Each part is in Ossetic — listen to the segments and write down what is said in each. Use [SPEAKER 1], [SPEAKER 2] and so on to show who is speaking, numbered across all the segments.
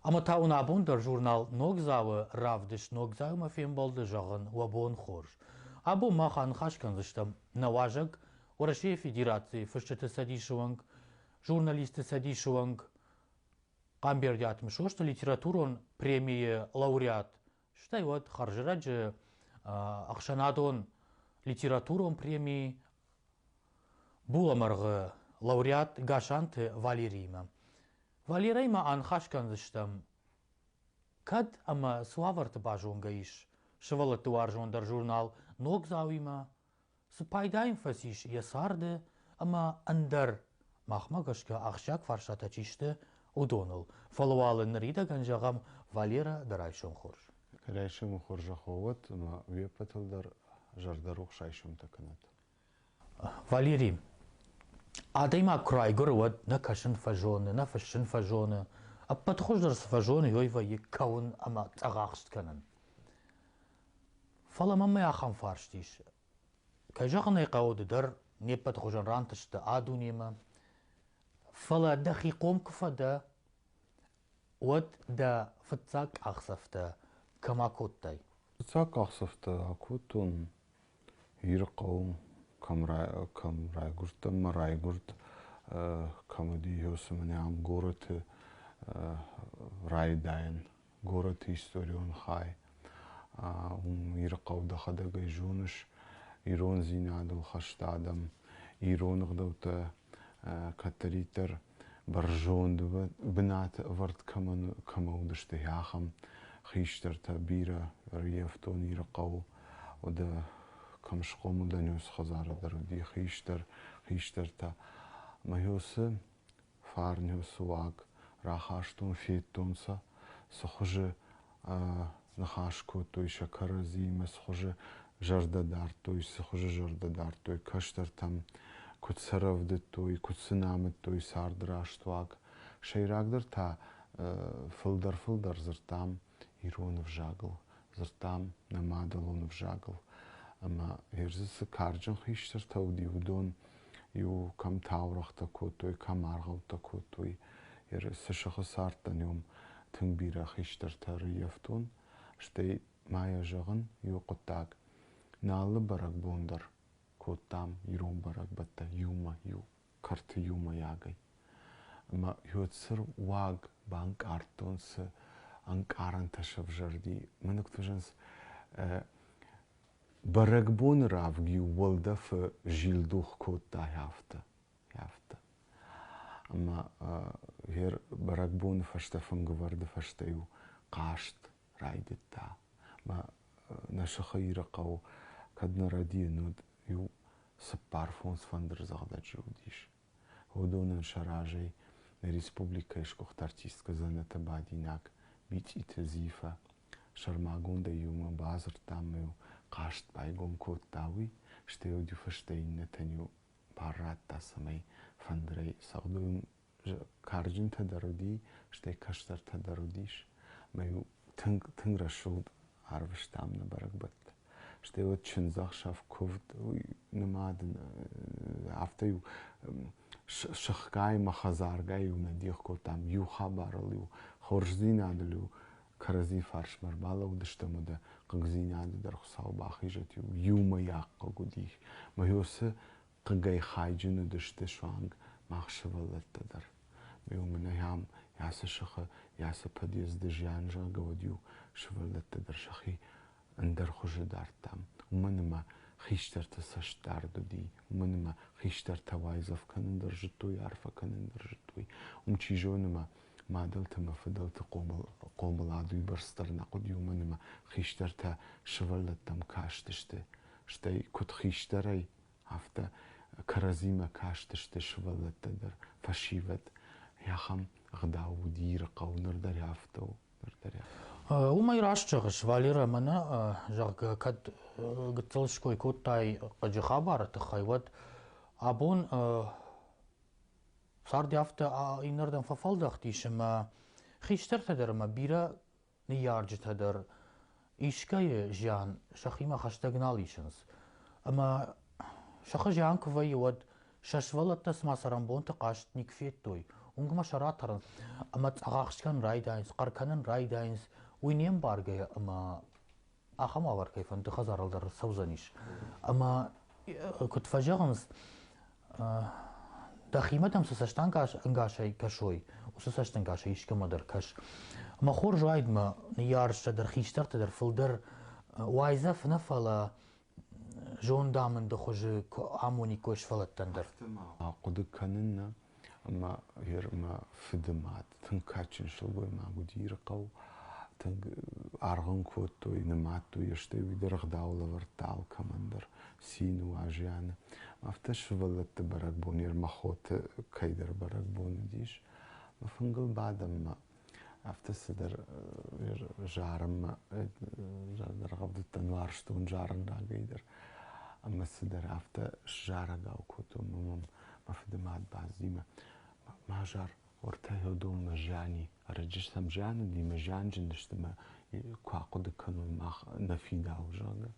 [SPEAKER 1] Ӕмӕ та уын абон дӕр журнал Ногдзау-ы равдыст Ногдзау-мӕ фембӕлды зӕгъын уӕ бон хорз. Абон мах аныхас кӕндзыстӕм нӕ уазӕг, Уӕрӕсейы Федерацийы Фысджыты цӕдисы уӕнг, Журналистты цӕдисы уӕнг Хъамбердиат Мысосты литературон премийы лауреат, стӕй уӕд хӕрзрӕджы ӕхсӕнадон литературон преми булӕмӕргъы лауреат Гасанты Валериимӕ. Валерӕй ма аныхас кӕндзыстӕм, кӕд ӕмӕ цы уавӕрты базонгӕ ис сывӕллӕтты уарзондӕр журнал Ногдзауимӕ, Цы пайда йын фӕцис йӕ царды ӕмӕ ӕндӕр, махмӕ гӕсгӕ ахсджиаг фарстатӕ чи сты, уыдоныл. Фӕлӕ уал ныридӕгӕн зӕгъӕм Валерӕ дӕ райсом хорз. Райсомы
[SPEAKER 2] хорзӕх уӕ уӕд ӕмӕ уе ппӕтыл дӕр зӕрдӕрухс райсомтӕ кӕнӕд.
[SPEAKER 1] Валери, адӕймаг куы райгуыры, уӕд нӕ кӕсын фӕзоны, нӕ фыссын фӕзоны, ӕппӕт хуыздӕр цы фӕзоны, уый вӕййы кӕуын ӕмӕ цъӕгахст кӕнын. Фӕлӕ мӕнмӕ ахӕм фарст ис. Кӕй зӕгъын ӕй хъӕуы, ды дӕр не ппӕт хуызӕн рантысты а-дунемӕ, фӕлӕ дӕхи хъом куы фӕдӕ, уӕд дӕ фыццаг къахдзӕфтӕ кӕм акодтай? Фыццаг
[SPEAKER 2] къахдзӕфтӕ акодтон Ирыхъӕуы кӕм, кӕм райгуырдтӕн мӕ райгуырд, кӕм уыди, ё цымӕ ам горӕты райдайӕн горӕты историон хай. Уым Ирыхъӕу дӕхӕдӕгӕй зоныс, ирондзинадыл хӕсты адӕм, ирон ӕгъдӕуттӕ кӕддӕриддӕр бӕрзонд бынаты ӕвӕрд кӕмӕ уыдысты, ахӕм хистӕртӕ бирӕ ӕрйӕфтон Ирыхъӕуы. Уӕдӕ кӕм схъомыл дӕн, уыцы хӕдзары дӕр уыди хистӕр, хистӕртӕ. Мӕ усы фарнеу суаг рахастон, федтонцӕ, цхуызы ныхас кодтой сӕ кӕрӕдзимӕ, цхуызы зӕрдӕ дардтой, цхуызы зӕрдӕ дардтой, кӕстӕртӕм куыд сӕ рӕвдыдтой, куыд сын амыдтой царды раст уаг. Сӕйрагдӕр та фылдӕр-фылдӕр дзырдтам ирон ӕвзагыл, дзырдтам нӕ мадӕлон ӕвзагыл. Ӕмӕ Ирзы цы карджын хистӕртӕ уыди, уыдон иу кӕм таурӕгътӕ кодтой, кӕм аргъӕуттӕ кодтой. Цы сыхы цардтӕн, уым тынг бирӕ хистӕртӕ ӕрыййӕфтон. Стӕй ма йӕ зӕгъын иу хъуыддаг. Нӕ алы бӕрӕгбон дӕр кодтам ирон бӕрӕгбӕттӕ иумӕ иу. кӕрты иумӕйагӕй. Ӕмӕ Ёцыр уаг банкъардтонцы ӕнкъарӕнтӕ сӕвзӕрди. Мӕнугтуызӕнс бӕрӕгбоны равг-иу уӕлдӕфы зилдух кодта афтӕ, афтӕ. Ӕмӕ гъер бӕрӕгбоны фӕстӕ, фынгывӕрды фӕстӕ-иу хъазт райдыдта. Мӕ нӕ сыхы Иры хъӕу кӕд нӕ рӕдийын уыд, иу цыппар фондз фӕндырдзӕгъдӕджы уыдис. Уыдонӕн сӕ разӕй нӕ республикӕйы сгуыхт артисткӕ Дзӕнӕты Бадинаг, Бицъиты Зифӕ сӕрмагондӕй иумӕ бадзырдтам-иу хъазт байгом кодта уый, стӕй уыд иу фыстӕ иннӕтӕн-иу бар радта, цӕмӕй фӕндырӕй цӕгъдой карджынтӕ дӕр уыди, стӕй кӕстӕртӕ дӕр уыдис. Ӕмӕ-иу тынг, тынг рӕсугъд арвыстам нӕ бӕрӕгбӕтты. Стӕй уӕд чындзӕхсӕв куывд, нымад, афтӕ-иу сыхгай-мӕ хӕдзаргай-иу нӕ дих кодтам, иу хабарыл-иу, хорздзинадыл-иу кӕрӕдзи фарсмӕ ӕрбалӕууыдыстӕм, уӕдӕ хъыгдзинады дӕр Хуыцау бахизӕт-иу, иумӕйаг хъыг уыди. Мӕ йо цы Хъыгӕй хайджын уыдысты суанг мах сывӕллӕттӕ дӕр. Уымӕй ам йӕ цы сыхы, йӕ цы подъезды зиан зӕгъгӕ уыд-иу сывӕллӕттӕ дӕр сӕхи ӕндӕр хуызы дардтам. Уымӕн ӕмӕ хистӕрты цӕстдард уыди, уымӕн ӕмӕ хистӕртӕ уайдзӕф кӕнын дӕр зыдтой, арфӕ кӕнын дӕр зыдтой. Уым, чи зоны, ма мадӕлты ӕмӕ фыдӕлты хъомыл, хъомылад уыйбӕрц дӕр нӕ хъуыд, уымӕн ӕмӕ хистӕртӕ сывӕллӕттӕм кастысты. Стӕй, куыд хистӕрӕй, афтӕ кӕрӕдзимӕ кастысты сывӕллӕттӕ дӕр, фӕсивӕд. Ахӕм ӕгъдау уыд Ирыхъӕу, ныр дӕр афтӕ у. Ныр дӕр
[SPEAKER 1] Уымӕй раст зӕгъыс, Валера, мӕнӕ, зӕгъгӕ, кӕд гыццыл ской кодтай хъыджы хабары тыххӕй, уӕд абон цард афтӕ иннӕрдӕм фӕфӕлдӕхтис, ӕмӕ хистӕртӕ дӕр ӕмӕ бирӕ ныййарджытӕ дӕр искӕйы зиан сӕхимӕ хӕстӕг нал исынц. Ӕмӕ сыхы зиан куы вӕййы, уӕд сӕ сывӕллӕттӕ цыма цӕрӕнбонты хъазт никуы федтой. Уынгмӕ сӕ ратӕрынц ӕмӕ цъӕгахст кӕнын райдайынц, хъӕр кӕнын райдайынц уый не мбаргӕйӕ ӕмӕ ахӕм уавӕр кӕй фӕнды хӕдзарыл дӕр цӕудзӕнис. Ӕмӕ куыд фӕзӕгъынц, дӕхимӕ дӕм цы цӕстӕнгасӕй кӕсой, уыцы цӕстӕнгасӕй искӕмӕ дӕр кӕс. Мӕ хорз уайд мӕ ныййарджытӕ дӕр, хистӕртӕ дӕр фылдӕр уайдзӕф нӕ, фӕлӕ зондамынды хуызы амониккой сфӕлӕттӕн дӕр. Хъуыды
[SPEAKER 2] кӕнын нӕ, Ӕмӕ гъер мӕ фыды мад тынг кадджын сылгоймаг уыди Иры хъӕу. Тынг аргъ ын кодтой, нымадтой, стӕй уый дӕр ӕгъдау лӕвӕрдта алкӕмӕн дӕр, цины, уазӕны. Афтӕ сывӕллӕтты бӕрӕгбон Ермохоты кӕйдӕр бӕрӕгбон уыдис. Мӕ фынгыл бадӕм мӕ афтӕ цыдӕр зарынмӕ зӕрдӕргъӕвдыдтӕн уарзтон зарын рагӕй дӕр ӕмӕ цыдӕр афтӕ сзарӕгау кодтон мӕм мӕ фыдымад бӕззи мӕ ма зар уӕртӕ уыдонмӕ зиани ӕрӕджы сӕм зианыди мӕ зианджын сты мӕ куы ахъуыды кӕной мах нӕ фидауы зӕгъгӕ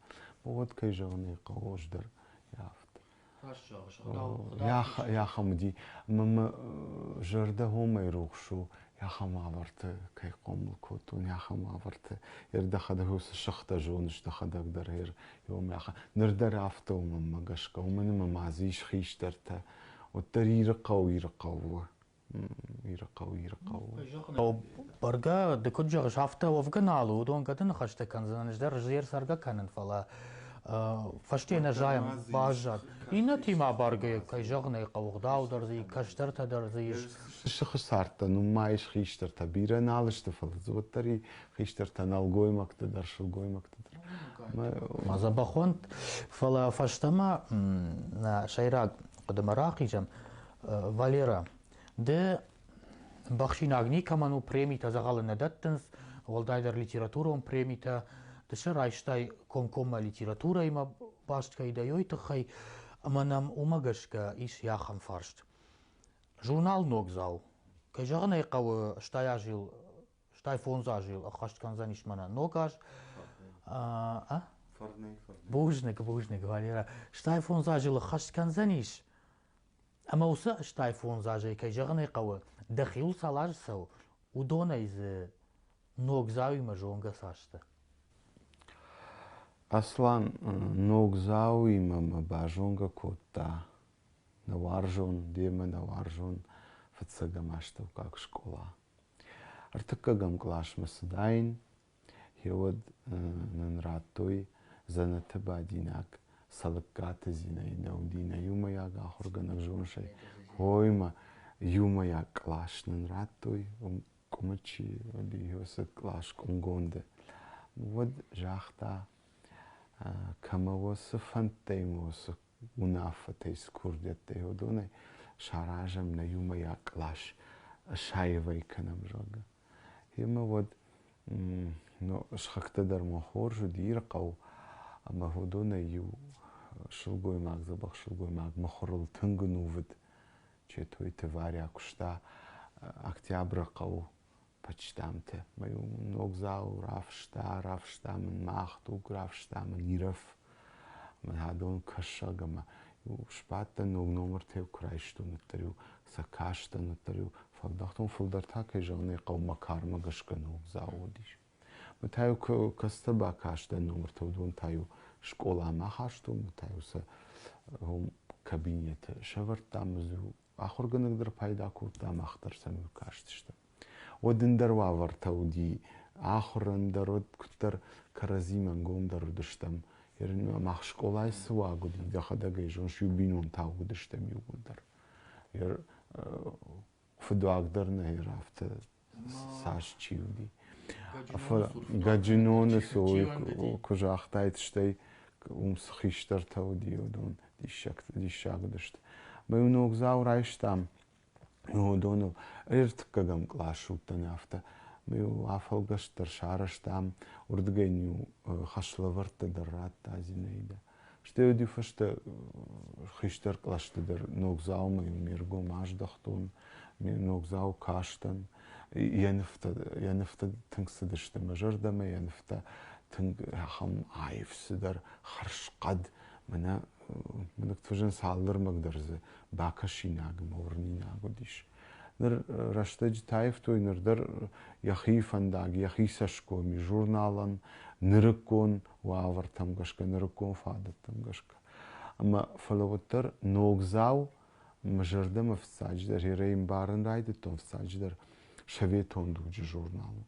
[SPEAKER 2] уӕд кӕй зӕгъын ӕй хъӕуы ӕз дӕр афтӕ Иахӕм уыди, ӕмӕ мӕ зӕрдӕ хомӕй рухс у, иахӕм уавӕрты кӕй хъомыл кодтон, иахӕм уавӕрты. Йе рдӕхӕдӕг уыцы сыхтӕ зоныс дӕхӕдӕг дӕр иомӕ. Ныр дӕр афтӕ у мӕнмӕ гӕсгӕ, уымӕн ӕмӕ ма дзы ис хистӕртӕ. Уӕддӕр Ирыхъӕу Ирыхъӕу у. Иры хъӕу, Иры
[SPEAKER 1] хъӕу. Бӕргӕ, ды куыд зӕгъыс, афтӕ уӕвгӕ нал у, уыдон гӕды ныхӕстӕ кӕндзынӕн, ӕз дӕр зӕр цӕргӕ кӕнын, фӕлӕ фӕсте нӕ зайӕм, баззад. Иннӕтимӕ абаргӕ кӕй зӕгъын ӕй хъӕуы, гъдау дӕр дзы ис, кӕстӕртӕ дӕр дзы ис. Сыхы цардтӕ,
[SPEAKER 2] ну ма ис хистӕртӕ, бирӕ нал сты, фӕлӕ дзы уӕддӕр и хистӕртӕ, нӕлгоймӕгты дӕр, сылгоймӕгты дӕр. Ма
[SPEAKER 1] дзӕбӕхонд, фӕлӕ фӕстӕмӕ нӕ сӕйраг хъуыдымӕ рахизӕм. Валера, ды бахсинаг никӕмӕн у, премитӕ дзӕгъӕлы нӕ дӕттынц, уӕлдайдӕр литературон премитӕ, ды сӕ райстай комкоммӕ литературӕимӕ баст кӕй дӕ, уой тыххӕй, ӕмӕ нӕм уымӕ гӕсгӕ ис ахӕм фарст. Журнал Ногдзау. Кӕй зӕгъын ӕй хъӕуы, стай азил, стай фондз азил ӕххӕст кӕндзӕнис мӕнӕ ног аз. Фарнӕй, фарнӕй. Бузныг, бузныг, Валера. Стай фондз азыл ӕххӕст кӕндзӕнис? Ӕмӕ уыцы стайфондз азӕй, кӕй зӕгъын ӕй хъӕуы, дӕхиуыл цал азы цӕуы, уыдонӕй дзы Ногдзауимӕ зонгӕ цасты?
[SPEAKER 2] Аслан Ногдзауимӕ мӕ базонгӕ кодта нӕ уарзон, демӕ нӕ уарзон фыццӕгӕм астӕуккаг скъола. Ӕртыккӕгӕм къласмӕ цыдаин, Гъеуӕд нын радтой дзӕнӕты бадинаг Цӕлыккаты Зинӕйы Наудинӕ иумӕйаг ахуыргӕнӕг зонысӕй. Гъоймӕ иумӕйаг кълас нын радтой Къуымычи Иосиф кълас Къуымгонды. Уӕд загъта, кӕмӕ уоцы фӕндтӕй ма уоцы унаффӕтӕй цы курдиӕттӕй уыдонӕй саразӕм нӕ иумӕйаг кълас, ысаивӕй кӕнӕм, зӕгъгӕ. Йемӕ уӕд сыхӕгтӕ дӕр ма хорз уыд Ирыхъӕу, ӕмӕ уыдонӕй-иу сылгоймаг, дзӕбӕх сылгоймаг мыхуырыл тынг ӕнувыд Четойты Варя куыста Октябры хъӕуы почтамты. Мӕ-иу ног зал рафыста, рафыста мын мах туг, рафыста мын Ирӕф. Мӕн адон кӕсаг ӕмӕ сбадтӕн, ног номыртӕ куы райстон, уӕддӕр-иу сӕ кастӕн, уӕддӕр-иу фӕлдӕхтон. Фылдӕр та, кӕй зӕгъын ӕй хъӕуы, мӕ кармӕ гӕсгӕ ног зал уыдис. Мӕ та-иу кӕцытӕ бакастӕн номыртӕ, уыдон та-иу скъоламӕ ахастон, мӕ та-иу сӕ кабинеты сӕвӕрдтам, ӕз-иу Ахуыргӕнӕг дӕр пайда кодта, мах дӕр сӕм кастысты. Уӕд ӕндӕр уавӕртӕ уыди. Ахуырӕн дӕр уӕд куыддӕр кӕрӕдзимӕ ӕнгомдӕр уыдыстӕм. Мах скъолайы цы уаг уыди, дӕхӕдӕг ӕй зоныс, иу бинонтау уыдыстӕм иууылдӕр. Фыдуаг дӕр нӕ ир афтӕ цас чи уыди. Гаджиноны цой куы загътаид, стӕй уым цы хистӕртӕ уыди, уыдон диссаг диссаг уыдысты. Мы-иу ногдзау райстам уыдоныл. Ӕртыккӕгӕм кълас уыдтӕн афтӕ. Мы-иу афӕлгӕст дӕр сарӕзтам, уырдыгӕй-иу хӕслӕвӕрдтӕ дӕр радта Зинаидӕ. Стӕй уыди фӕстӕ хистӕр кълӕсты дӕр ног дзаумайы ме ргом аздӕхтон, ме ног дзау кастӕн. Йӕ нывтӕ, йӕ нывтӕ тынг цыдысты мӕ зӕрдӕмӕ, йӕ нывтӕ тынг ахӕм аив цыдӕр хӕрзхъӕд. Мӕнӕ мӕнӕ фӕзын цалдӕр мӕг дӕр дзы бакӕсинаг, морнинаг уыдис. Ныр рӕстӕджы таивтой ныр дӕр йӕхи фӕндаг, йӕхи цӕсгом, журналӕн нырыккон уавӕртӕм гӕсгӕ, нырыккон фадӕттӕм гӕсгӕ. Ӕмӕ фӕлӕ уӕддӕр ногдзау мӕ зӕрдӕмӕ фыццаджыдӕр, ерӕй мбарын райдыдтон фыццаджыдӕр советон дуджы журнал у.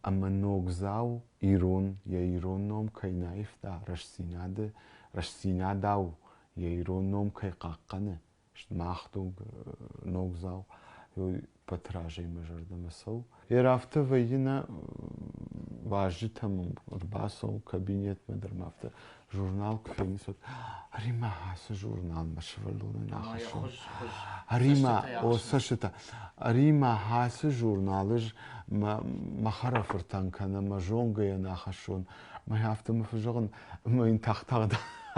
[SPEAKER 2] Ӕмӕ ногдзау ирон, йӕ ирон ном кӕй наивта, рӕстдзинады, рӕстдзинадау йӕ ирон ном кӕй хъахъхъӕны, Мах дуг ногдзау Петражимӕ зӕрдӕмӕ цӕуы. Йе афтӕ вӕййы нӕ вазджытӕм ӕрбацӕуы кабинетмӕ дӕр ма афтӕ журнал куы феныс, уӕд Римӕ ацы журналмӕ сывӕллонӕн ахӕссын. Римӕ, о цӕстытӕ. Римӕ ацы журнал ӕз мӕ хӕрӕфыртӕн кӕнӕ мӕ зонгӕйӕн ахӕссон Мӕй афтӕ мӕ фӕзӕгъын, ӕмӕ йын тагъд-тагъд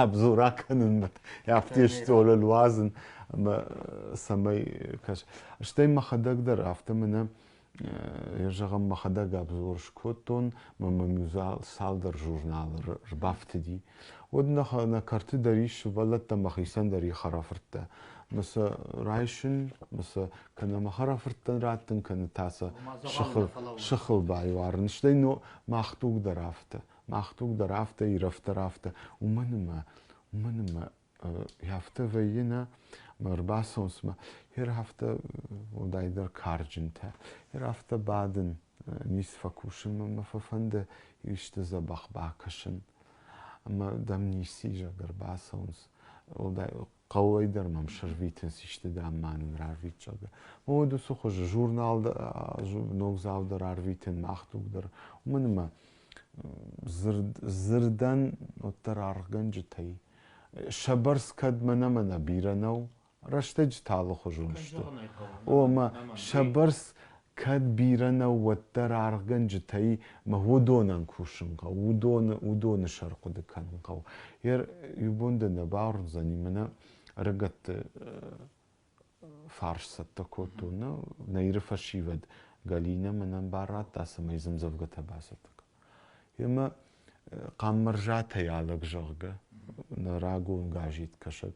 [SPEAKER 2] обзора кӕнын, афтӕ стъолыл уадзын, ӕмӕ цӕмӕй кӕс. Стӕй мӕхӕдӕг дӕр афтӕ мӕнӕ я зӕгъӕм, мӕхӕдӕг обзор скодтон, мӕ мӕм иу цалдӕр журналы рбафтыди. Уӕд нӕ кӕрты дӕр ис сывӕллӕттӕ мӕхицӕн дӕр их ӕрӕфырдта. Мӕ сӕ райсын, мӕ сӕ кӕнӕ мӕ хӕрӕфырттӕн раттын кӕны та сӕ сыхыл, сыхыл байуарын. Стӕй но, мах туг дӕр афтӕ, мах туг дӕр афтӕ, ирӕф дӕр афтӕ. Уымӕн ӕмӕ, уымӕн ӕмӕ афтӕ вӕййы нӕ, мӕ ӕрбацӕуынц мӕ, ер афтӕ уӕлдайдӕр карджынтӕ, ер афтӕ бадын, ницы фӕкусын, мӕ фӕфӕнды исты дзӕбӕх бакӕсын. Ӕмӕ дӕм ницы изӕр дӕр бацӕуынц. Уӕлдай хъӕуӕй дӕр мӕм сӕрвитынц исты дам ма нын рарвитсӕг. Уыд уыцы хуыз журнал ногдзау дӕр арвитын, мах туг дӕр. Уымӕн ӕмӕ дзырд дзырдӕн уӕддӕр аргъгӕнджытӕй сӕ бӕрц кӕд мӕнӕ-мӕнӕ бирӕ нӕу, рӕстӕджы талы хуызон сты. О, ӕмӕ сӕ бӕрц Кӕд бирӕ нӕу, уӕддӕр аргъгӕнджытӕй мӕ уыдонӕн кусын хъӕуы, уыдоны, уыдоны сӕр хъуыды кӕнын хъӕуы. Йе иу бон дӕ нӕ бауырндзӕни, мӕнӕ ӕрыгӕтты фарс цӕттӕ кодтон, нӕ, нӕ Иры фӕсивӕд Галинӕ мӕнӕн бар радта, цӕмӕй йе мдзӕвгӕтӕ бацӕттӕ кӕна. Йемӕ Хъаммӕрзатӕй алӕг, зӕгъгӕ, нӕ рагон газеткӕсӕг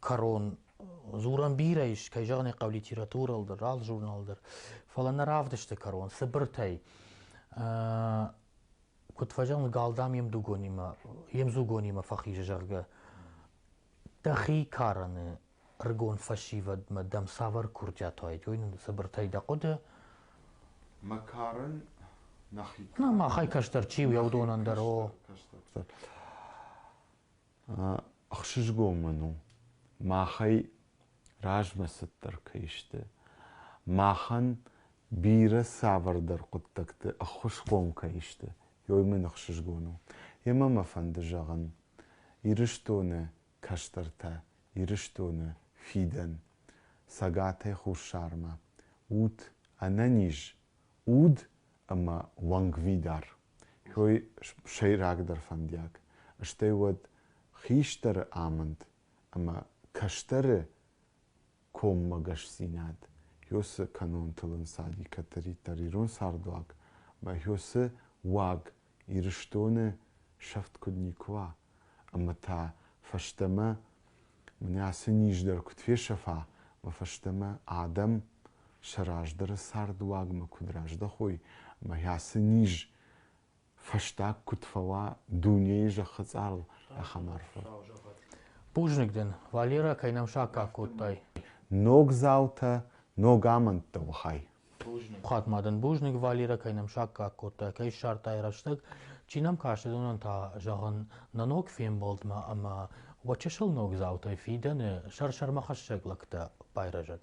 [SPEAKER 1] кӕрон. Дзурӕн бирӕ ис, кӕй зӕгъын ӕй хъӕуы литературӕыл дӕр, алы журнал дӕр, фӕлӕ нӕ равдысты кӕрон цыбыртӕй. Куыд фӕзӕгъын, гал дам йе мдугонимӕ, йе мдзугонимӕ фӕхизы, зӕгъгӕ. Дӕхи карӕны ӕрыгон фӕсивӕдмӕ дӕм цавӕр курдиат уайд, уый нын цыбыртӕй дӕ хъуыды? Мӕ
[SPEAKER 2] карын нӕхи. Нӕ махӕй кӕстӕр
[SPEAKER 1] чи у, йӕ уыдонӕн дӕр, о.
[SPEAKER 2] ӕхсызгон мын у, махӕй размӕцыддӕр кӕй сты. Махӕн бирӕ цавӕрдӕр хъуыддӕгты ӕххуысхъом кӕй сты, уый мын ӕхсызгон у. Йемӕ мӕ фӕнды зӕгъын, Ирыстоны кӕстӕртӕ, Ирыстоны фидӕн, Цӕгатӕй Хуссармӕ, ут ӕнӕниз, уд ӕма уӕнгвидар, хёй сӕйрагдӕр фӕндиаг, стӕй уӕд хистӕры амынд ӕмӕ кӕстӕры коммӕгӕсдзинад, хё цы кӕнонтыл ӕнцади кӕддӕриддӕр ирон цардуаг ӕмӕ хё цы уаг Ирыстоны сӕфт куыд никуы уа, ӕмӕ та фӕстӕмӕ мын ацы низ дӕр куыд фесӕфа, мӕ фӕстӕмӕ адӕм сӕ раздӕры цардуагмӕ куыд раздӕхой ӕмӕ ацы низ фӕстаг куыд фӕуа дунейы зӕххы цъарыл ахӕм арфӕ.
[SPEAKER 1] Бузныг дын, Валерӕ, кӕй нӕм саккаг кодтай. Ног
[SPEAKER 2] зӕлтӕ, ног амӕндтӕ уы хай. Пхуат ма
[SPEAKER 1] дын бузныг, Валерӕ, кӕй нӕм саккаг кодтай, кӕй ссардтай рӕстӕг. Чи нӕм каст, уыдонӕн та зӕгъын нӕ ног фембӕлдмӕ ӕмӕ уӕ чысыл ногдзаутӕй фидӕны сӕрсӕрмӕхӕссӕг лӕгтӕ байрӕзӕд.